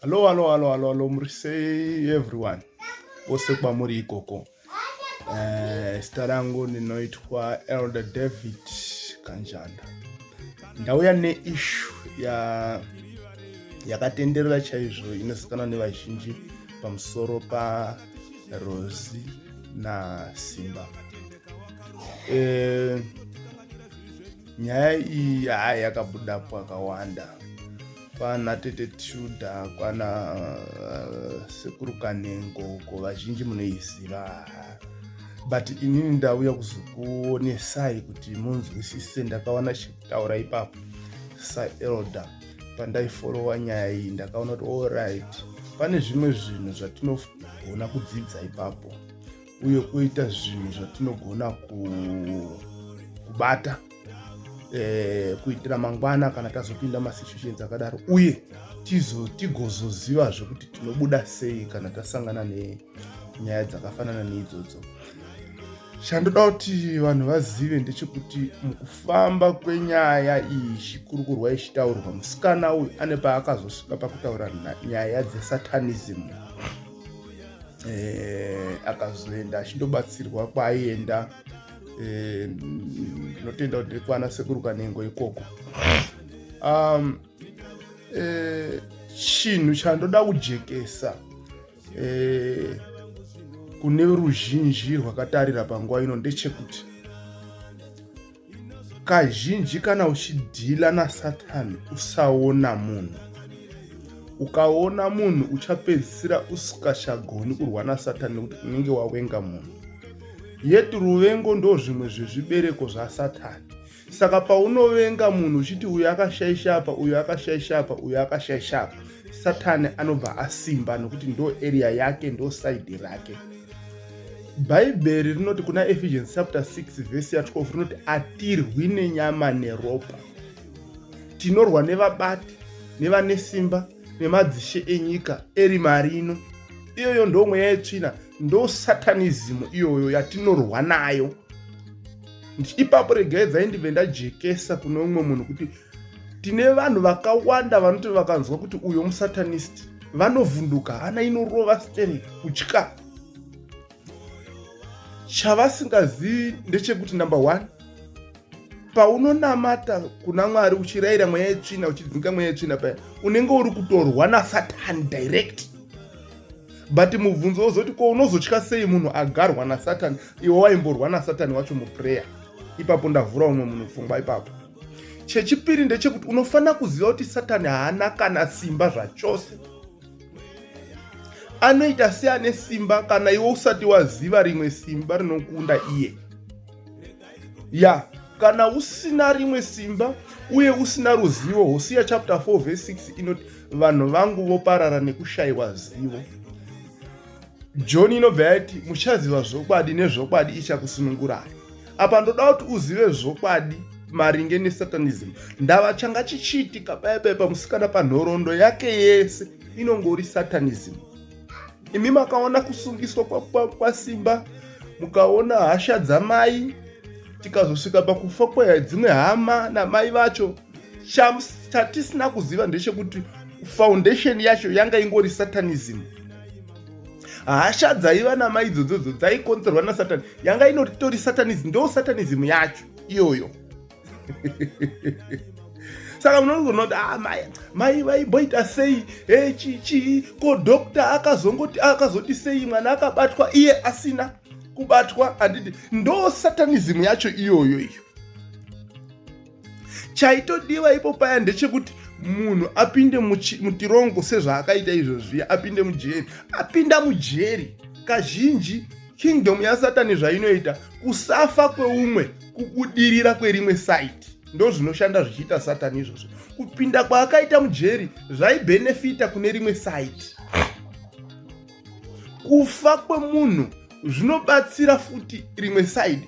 hallo hallo hallo hallo hallo muri sei everyone vose kwamuri ikoko uh, eh, zita rangu ndinoitwa elder david kanjanda ndauya neishu ya yakatenderera chaizvo inozikanwa nevazhinji pamusoro parozi nasimba e, nyaya iyi haa yakabuda pakawanda kwana tete tshuda kwana uh, sekuru kanengo ko vazhinji munoiziva haa but inini ndauya kuzokuonesai kuti munzwisise ndakaona chekutaura ipapo saelder pandaiforowa nyaya iyi ndakaona kuti allright pane zvimwe zvinhu zvatinogona kudzidza ipapo uye oita zvinhu zvatinogona kubata eh, kuitira mangwana kana tazopinda masituations akadaro uye tigozozivazve kuti tinobuda sei kana tasangana nenyaya dzakafanana neidzodzo chandoda kuti vanhu vazive ndechekuti mukufamba kwenyaya iyi chikurukurwa ichitaurwa musikana uyu ane paakazosvika pakutaura nyaya dzesatanism eh, akazoenda achindobatsirwa kwaaienda eh, ndinotenda kuti kwana sekuru kanengo ikoko um, eh, chinhu chandoda kujekesa eh, kune ruzhinji rwakatarira panguva ino ndechekuti kazhinji kana uchidhila nasatani usaona munhu ukaona munhu uchapedzisira usikachagoni kurwa nasatani nekuti unenge wawenga munhu yet ruvengo ndo zvimwe zvezvibereko zvasatani saka paunovenga munhu uchiti uyo akashaisha apa uyo akashaisha apa uyo akashaisha apa satani anobva asimba nokuti ndo area yake ndo saidi rake bhaibheri rinoti kuna ephesians chapter 6 vhesi ya 12 rinoti atirwi nenyama neropa tinorwa nevabati nevane simba nemadzishe enyika eri marino iyoyo ndo mweya yetsvina ndo satanizimu iyoyo yatinorwa nayo ipapo regai dzaindive ndajekesa kune umwe munhu kuti tine vanhu vakawanda vanoti vakanzwa kuti uyo musatanist vanovhunduka hana inorova stere kutya chavasingazivi ndechekuti number one paunonamata kuna mwari uchirayira mweya yetsvina uchidzinga mweya yetsvina paya unenge uri kutorwa nasatani direct but mubvunzo wozoti ko unozotya sei munhu agarwa nasatani iwe waimborwa nasatani wacho muprayer ipapo ndavhura umwe munhu pfungwa ipapo chechipiri ndechekuti unofanira kuziva kuti satani haana kana simba zvachose anoita seane simba kana iwe usati waziva rimwe simba rinokunda iye ya kana usina rimwe simba uye usina ruzivo hosiya chapter 4 verse 6 inoti vanhu vangu voparara nekushayiwa zivo joni inobva yati muchaziva zvokwadi nezvokwadi ichakusunungurai apa ndoda kuti uzive zvokwadi maringe nesatanism ndava changa chichiitika paya paya pamusikana panhoroondo yake yese inongori satanism imi makaona kusungiswa kwasimba kwa, kwa mukaona hasha dzamai tikazosvika pakufa kwedzimwe hama namai vacho chatisina kuziva ndechekuti foundation yacho yanga ingori satanism hasha dzaiva namai idzodzodzo dzaikonzerwa nasatani yanga inotori satanism ndo satanism yacho iyoyo saka munonogona kuti ah, mai mai vaimboita sei e chichii ko dokta akazongoti akazoti sei mwana akabatwa iye asina kubatwa handidi ndo satanism yacho iyoyo iyo chaitodiwa ipo paya ndechekuti munhu apinde mutirongo sezvaakaita izvozviya apinde mujeri apinda mujeri kazhinji kingdom yasatani zvainoita kusafa kweumwe kubudirira kwerimwe saiti ndo zvinoshanda zvichiita satani izvozvo kupinda kwaakaita mujeri zvaibhenefita kune rimwe saiti kufa kwemunhu zvinobatsira futi rimwe side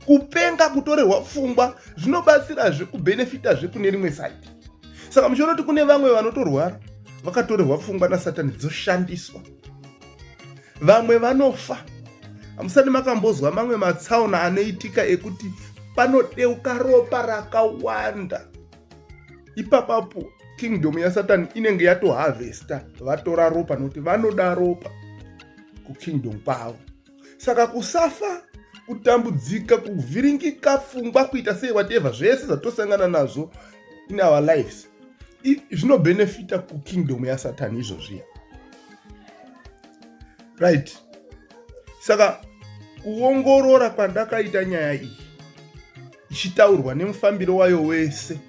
kupenga kutorerwa pfungwa zvinobatsirazve kubenefita zve kune rimwe side saka muchiona kuti kune vamwe vanotorwara vakatorerwa pfungwa nasatani dzoshandiswa vamwe vanofa hamusati makambozwa mamwe matsaona anoitika ekuti panodeuka ropa rakawanda ipapapo kingdom yasatani inenge yatoharvesta vatora ropa nokuti vanoda ropa kukingdom kwavo saka kusafa kutambudzika kuvhiringika pfungwa kuita sei whatever zvese zvatosangana nazvo in our lives zvinobhenefita kukingdom yasatani izvozviya right saka kuongorora kwandakaita nyaya iyi ichitaurwa nemufambiro wayo wese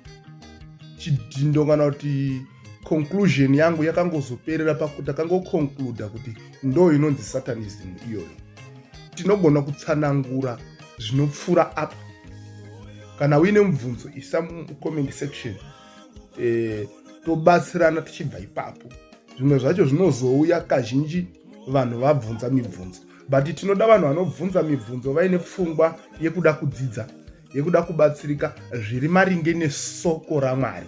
chidhindo kana kuti conclusion yangu yakangozoperera pakuti akangoconcluda kuti ndo inonzi satanism iyoyo tinogona kutsanangura zvinopfuura apa kana uine mubvunzo isa mucomment section e, tobatsirana tichibva ipapo zvimwe zvacho zvinozouya kazhinji vanhu vabvunza mibvunzo but tinoda vanhu vanobvunza mibvunzo vaine pfungwa yekuda kudzidza yekuda kubatsirika zviri maringe nesoko ramwari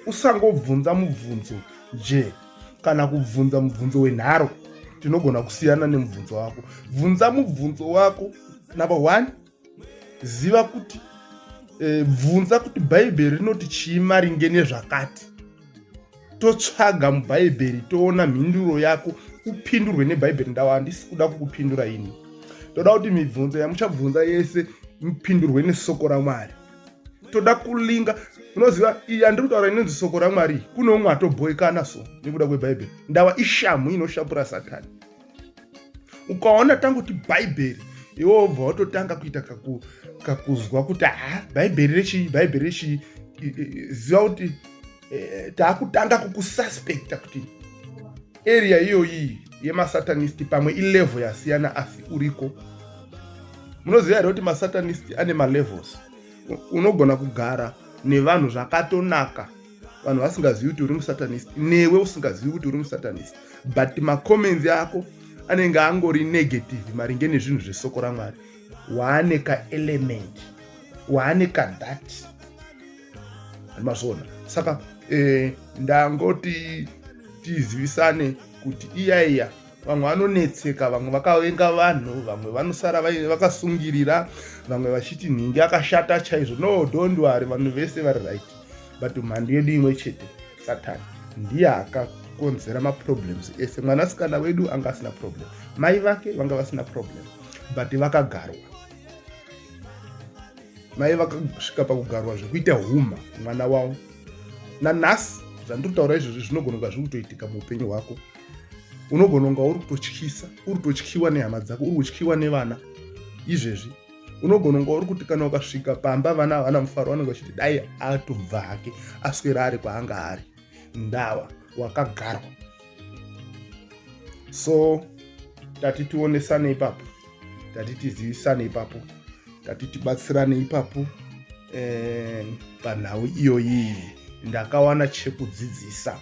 usangobvunza mubvunzo je kana kubvunza mubvunzo wenharo tinogona kusiyana nemubvunzo wako bvunza mubvunzo wako number one ziva kuti e, bvunza kuti bhaibheri rinoti chii maringe nezvakati totsvaga mubhaibheri toona mhinduro yako upindurwe nebhaibheri ndava handisi kuda kukupindura ini toda kuti mibvunzo yamuchabvunza yese mupindurwe nesoko ramwari toda kulinga unoziva iyi yandiri kutaura inonzi soko ramwari kune umwe atobhoikana so nekuda kwebhaibheri ndava ishamhu inoshapura satani ukaona tangoti bhaibheri iwe obva watotanga kuita kakuzwa kuti ha bhaibheri rechii bhaibheri rechii ziva kuti e, taakutanga kukususpekta kuti area iyoyi yemasatanist pamwe ilevel yasiyana asi uriko munoziva here kuti masatanist ane malevels unogona kugara nevanhu zvakatonaka vanhu vasingazivi kuti uri musatanist newe usingazivi kuti uri musatanist but macomments ako anenge angori negative maringe nezvinhu zvesoko ramwari waane kaelement waane kadhat mazvona saka eh, ndangoti tizivisane kuti iya iya vamwe vanonetseka vamwe vakavenga vanhu vamwe vanosara vakasungirira vamwe vachiti nhingi akashata chaizvo no don't worry vanhu vese vari right but mhandu yedu imwe chete satan ndiye akakonzera maproblems ese mwanasikana wedu anga asina problem mai vake vanga vasina problem but vakagarwa mai vakasvika pakugarwa zvekuita huma mwana wavo nanhasi zvandiri kutaura izvozvi zvinogona kunga zviri kutoitika muupenyu hwako unogona kunga uri kutotyisa uri kutotyiwa nehama dzako uri kutyiwa nevana izvezvi unogona kunge uri kuti kana ukasvika pamba vana havana mufaro vanenge vachiti dai atobva hake aswera ari kwaanga ari ndawa wakagarwa so tati tionesane ipapo tati tizivisane ipapo tati tibatsirane ipapo eh, panhau iyoyi ndakawana chekudzidzisa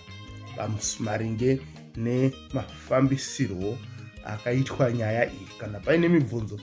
maringe nemafambisirwo akaitwa nyaya iyi kana paine mibvunzo